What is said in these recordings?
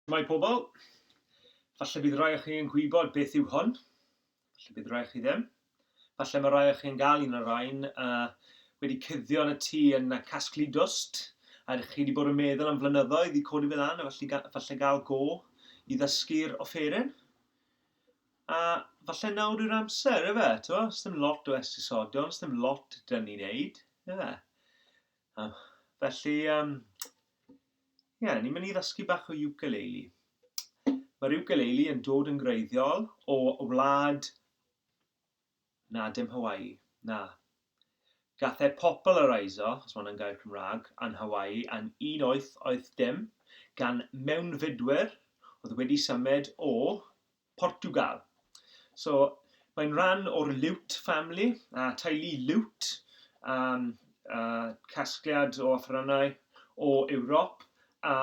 Shwmae pobl! Falle bydd rai o chi yn gwybod beth yw hwn, falle bydd rai o chi ddim. Falle mae rai o chi yn gael un o'r rhain a wedi cuddio yn y tŷ yn casglu dwst, a chi wedi bod yn meddwl am flynyddoedd i codi fe lan a falle, falle gael go i ddysgu'r offeryn. A falle nawr yw'r amser, efe, to? Sdim lot o esgusodion, sdim lot dyn ni'n neud, efe? O, felly, um, yeah, ni'n mynd i ddysgu bach o ukulele. Mae'r ukulele yn dod yn greiddiol o wlad... Na, dim Hawaii, na. Gath e populareiso, os mae hwnna'n gair Cymraeg, yn Hawaii yn 1880 gan mewnfudwyr oedd wedi symud o Portiwgal. So, mae'n rhan o'r Liwt family, a teulu Liwt, a, a casgliad o offerynnau o Ewrop, a,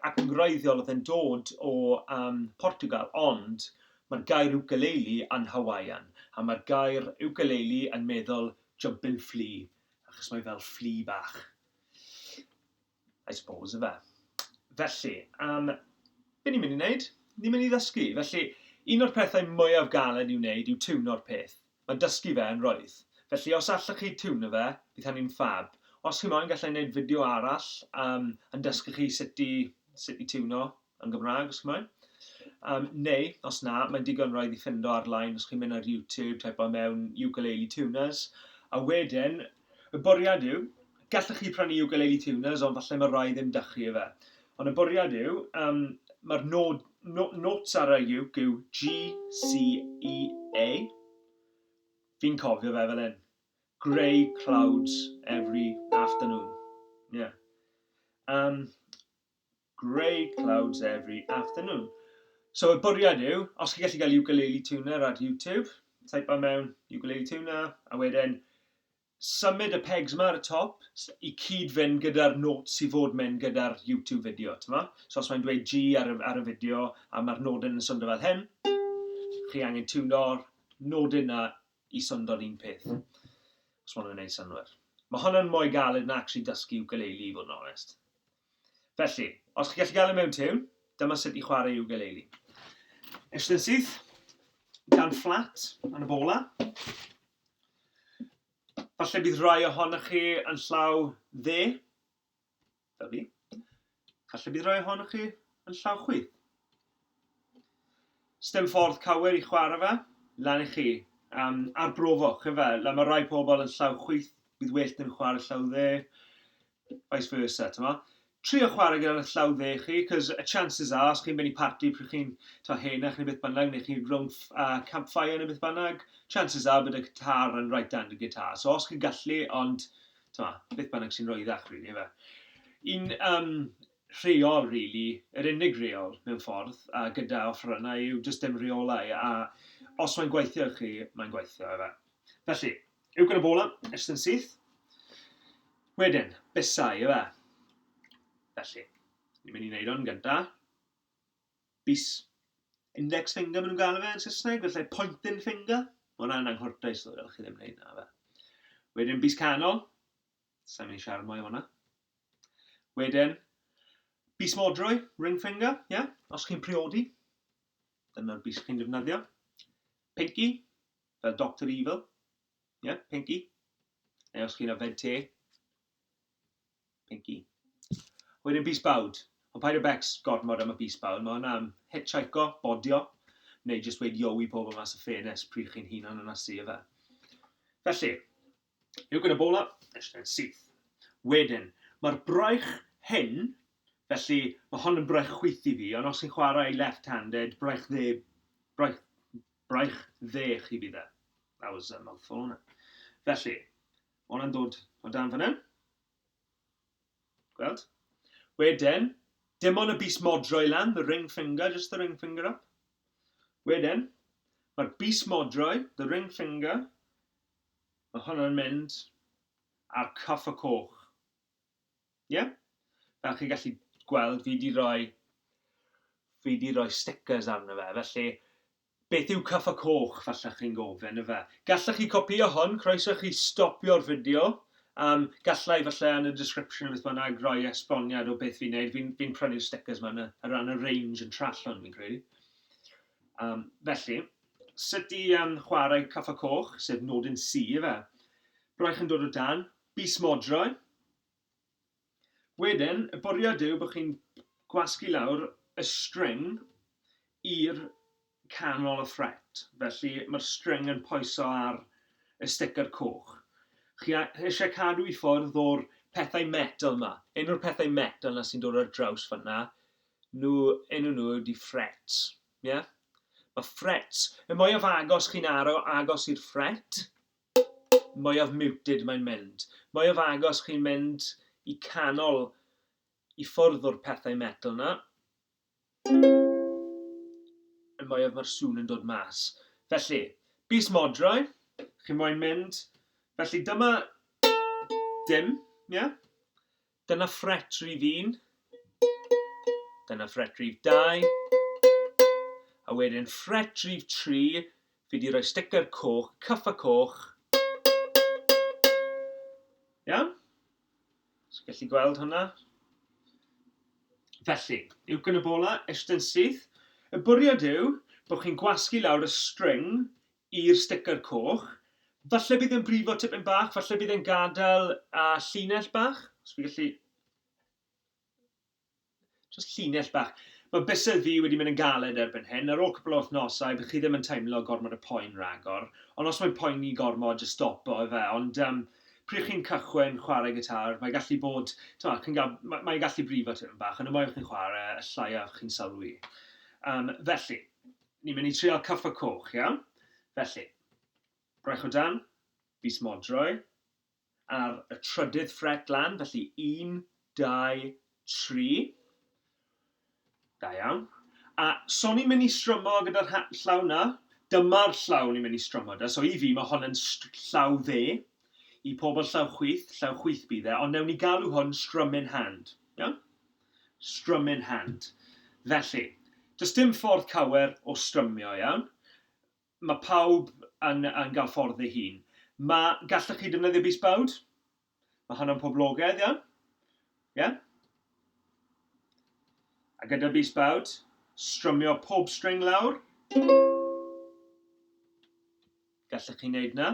ac yn wreiddiol oedd e'n dod o um, Portiwgal, ond mae'r gair ukulele yn Hawaiian, a mae'r gair ukulele yn meddwl jumping flea, achos mae fel flea bach. I suppose, ife? Felly, am... Be ni'n mynd i wneud? Ni'n mynd i ddysgu. Felly, un o'r pethau mwyaf galed i'w wneud yw tiwno'r peth. Mae dysgu fe yn roedd. Felly, os allwch chi tiwno fe, bydd hynny'n ffab. Os chi moyn, galla i wneud fideo arall yym yn dysgu chi sut i sut i tiwno. Yn Gymraeg, os chi'n moyn. Um, neu, os na, mae'n digon roedd i ffindo ar-line os chi'n mynd ar YouTube, typo mewn ukulele tuners. A wedyn, y bwriad yw, gallwch chi prynu ukulele tuners, ond falle mae rai ddim dach chi efe. Ond y bwriad yw, um, mae'r nod, no, notes ar y uke yw G, C, E, A. Fi'n cofio fe fel hyn. Grey clouds every afternoon. Yeah. Um, Grey clouds every afternoon. So y bwriad yw, os chi gallu cael ukulele tuner ar YouTube, type o mewn ukulele tuner, a wedyn symud y pegs yma ar y top i cyd fynd gyda'r notes i fod mynd gyda'r YouTube fideo, tyma? So os mae'n dweud G ar y, ar y fideo a mae'r nodyn yn swndo fel hyn, chi angen tuno'r nodyn yna i swndo un peth, os mae'n gwneud synwyr. Mae hwnna'n mwy galed na actually dysgu ukulele i fod yn onest. Felly, os chi'n gallu gael e mewn tiwn, dyma sut i chwarae ukulele. Eistedd yn syth, gan fflat yn y bola. Falle bydd rhai ohonoch chi yn llaw dde, fel fi. Falle bydd rhai ohonoch chi yn llaw chwi. Stem ffordd cywir i chwarae fe, lan i chi. Um, arbrofoch, efe, le mae rhai pobl yn llaw chwyth, bydd well yn chwarae llaw dde. vice versa, t'mo'? Trio chwarae gyda'r llaw dde chi, 'cos y chances are, os chi'n mynd i parti pryd chi'n, t'mo', henach neu beth bynnag, neu chi rownd uh, campfire neu beth bynnag, chances are bod y guitar yn right hand y guitar. So os chi'n gallu, ond, t'mo', beth bynnag sy'n roeddach, rili, really, fe. Un um, rheol, rili, really, yr unig reol, mewn ffordd, a gyda offerynnau yw jyst dim reolau, a os mae'n gweithio i chi, mae'n gweithio, efe. Felly, Yw gyda bola, edrych yn syth. Wedyn, busau, yw e? Felly, ni'n mynd i wneud o'n gynta. Bus. Index finger, maen nhw'n gael fe yn Saesneg, felly pointing finger. Mae hwnna'n anghordaus, ddod fel chi ddim wneud na fe. Wedyn, bus canol. Sa'n mynd i siarad mwy o hwnna. Wedyn, bus modrwy, ring finger, ie? Yeah? Os chi'n priodi, dyna'r bus chi'n defnyddio. Pinky, fel Doctor Evil, ie, Pinky, neu os chi'n yfed te, Pinky. Wedyn bys bawd, ond paid â becs gormod am y bys bawd, mae hwnna am hitshiko, bodio, neu jyst weud yo i pobl mas y ffenest pryd chi'n hunan yn asu, ife. Felly, Yw gyda bola? Ystyr syth. Wedyn, mae'r braich hyn, felly mae hon yn braich chwith i fi, ond os chi'n chwarae left-handed, braich dde, braich, braich dde chi bydd e. That was a mouthful, hwnna. Felly, mae hwnna'n dod o dan fan hyn. Gweld? Wedyn, dim ond y bus modro i lan, the ring finger, just the ring finger up. Wedyn, mae'r bus modro, the ring finger, Mae hwn yn mynd ar coffa coch. Ie? Yeah? Fel chi'n gallu gweld, fi di roi, fi di roi stickers arno fe, felly beth yw coffa coch, falle chi'n gofyn, efe? Gallech chi copio hwn, croeso chi stopio'r fideo, um, gallai falle yn y description beth bynnag roi esboniad o beth fi'n neud, fi'n fi prynu'r stickers ma'n y, ar ran y range yn Trallwng, fi'n credu. Um, felly, Sut ti yn chwarae Cyffo Coch, sef nodyn C ife? Braich yn dod o dan, bys modroi. Wedyn, y bwriad yw bod chi'n gwasgu lawr y string i'r canol y ffret. Felly, mae'r string yn poeso ar y sticker coch. Chi eisiau cadw i ffwrdd o'r pethau metal yma. Un o'r pethau metal na sy'n dod ar draws fanna, nhw, enw nhw ydi frets. Ie? Mae ffret. Y mwyaf agos chi'n aro agos i'r ffret, mwyaf muted mae'n mynd. Mwyaf agos chi'n mynd i canol i ffwrdd o'r pethau metel 'na, y mwyaf mae'r sŵn yn dod mas. Felly, bys modrau, chi moyn mynd, felly dyma dim, ie? Dyna ffret rif un. Dyna ffret rif dau. A wedyn ffret rif tri, fi di roi sticker coch, cyffa coch. Iawn? So gallu gweld hwnna? Felly, uwch yn y bola, eistedd yn syth. Y bwriad yw bod chi'n gwasgu lawr y string i'r sticker coch. Falle bydd e'n brifo tipyn bach, falle bydd e'n gadael a llinell bach, os fi gallu... Just llinell bach. Mae bysedd fi wedi mynd yn galed erbyn hyn, ar ôl cwpl o wythnosau bydd chi ddim yn teimlo gormod y poen ragor, ond os mae'n poeni gormod jyst stopo efe, ond yym pryd chi'n cychwyn chwarae gitar mae gallu bod, t'mo' chi'n ga'l, ma' mae e'n gallu brifo tipyn bach, ond y mwyaf chi'n chwarae y llaiaf chi'n sylwi. Yym felly, Ni'n mynd i trial Caffa Coch, iawn? Felly, braich o dan, fis Modrwy, ar y trydydd ffret lan, felly un, dau, tri. Da iawn. A so ni'n mynd i strymo gyda'r ha- llaw na. Dyma'r llaw ni'n mynd i strymo 'da. So i fi, mae hon yn str- llaw dde. I pobl llaw chwith, llaw chwith bydd e, ond newn ni galw hwn strumming hand. Iawn? Strum in hand. Felly, does dim ffordd cawer o strymio, iawn? Mae pawb yn, yn cael ffordd ei hun. Mae, gallwch chi defnyddio bys bawd? Mae hwnna'n poblogaidd, iawn? Ie? Yeah? A gyda bys bawd, strymio pob string lawr. Gallwch chi wneud na?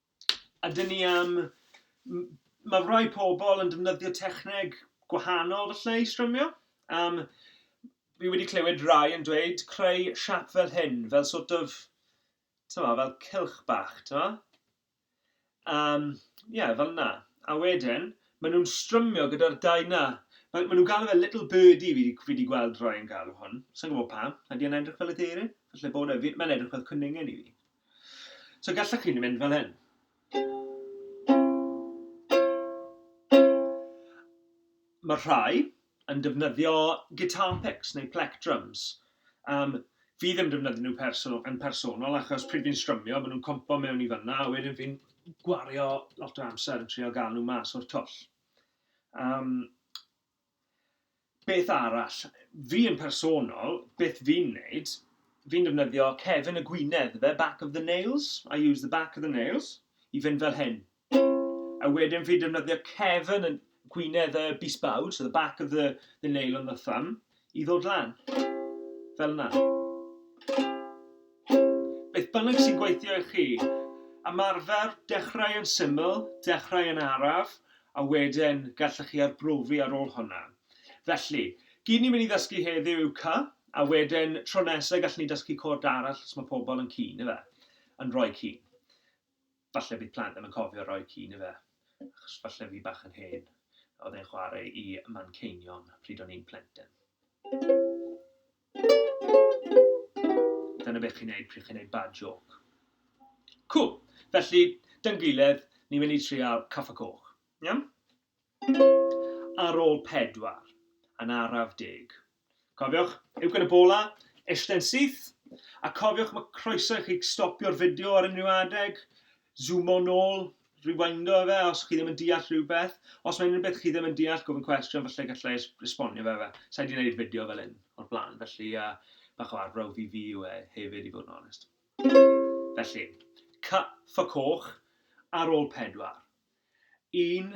A dyn ni am... m- mae rhai pobl yn defnyddio techneg gwahanol falle i strymio. Am... fi wedi clywed rhai yn dweud creu siap fel hyn, fel sort of, timod, fel cylch bach, timod. Am, ie, fel 'na. A wedyn, maen nhw'n strymio gyda'r dau 'na. Maen nhw'n galw fe little birdie fi 'di fi 'di gweld rhai yn galw hwn. Sa i'n gwybod pam. Ydy e'n edrych fel aderyn? Falle bod e. Fi... mae'n edrych fel cwningen i fi. So gallwch chi mynd fel hyn. Mae rhai yn defnyddio guitar picks neu plec drums. Um, fi ddim defnyddio nhw person, yn personol achos pryd fi'n strymio, maen nhw'n compo mewn i fyna a wedyn fi'n gwario lot o amser yn trio gael nhw mas o'r twll. Um, Beth arall? Fi yn personol, beth fi'n neud, fi'n defnyddio cefn y gwinedd ife, back of the nails, I use the back of the nails, i fynd fel hyn. A wedyn fi'n defnyddio cefn y gwinedd y bisbawd, so the back of the, the nail on the thumb, i ddod lan. Fel yna. Beth bynnag sy'n gweithio i chi. Ymarfer, dechrau yn syml, dechrau yn araf, a wedyn gallech chi arbrofi ar ôl hwnna. Felly, gyd ni'n mynd i ddysgu heddiw yw cy, a wedyn tro nesa gallwn ni dysgu cod arall os mae pobl yn cyn, ife? Yn rhoi cyn. Falle bydd plant ddim yn cofio rhoi cyn, ife? Achos falle fi bach yn hen, oedd e'n chwarae i Manceinion pryd o'n i'n plentyn. Dyna beth chi'n neud pryd chi'n neud bad joke. Cŵl. Felly, dy'n gilydd, ni'n mynd i trial Caffa Coch. Iawn? Ar ôl pedwar, yn araf deg. Cofiwch, uwchben y bola, eistedd yn syth, a cofiwch mae croeso i chi stopio'r fideo ar unrhyw adeg, Zoomo nôl, rewindo efe os chi ddim yn deall rhywbeth. Os mae unrhyw beth chi ddim yn deall, gofyn cwestiwn, falle galla i esbonio fe efe. Sa i 'di neud fideo fel hyn o'r blaen, felly bach o arbrawf i fi yw e hefyd i fod yn onest. Felly, cut for coch ar ôl pedwar. Un,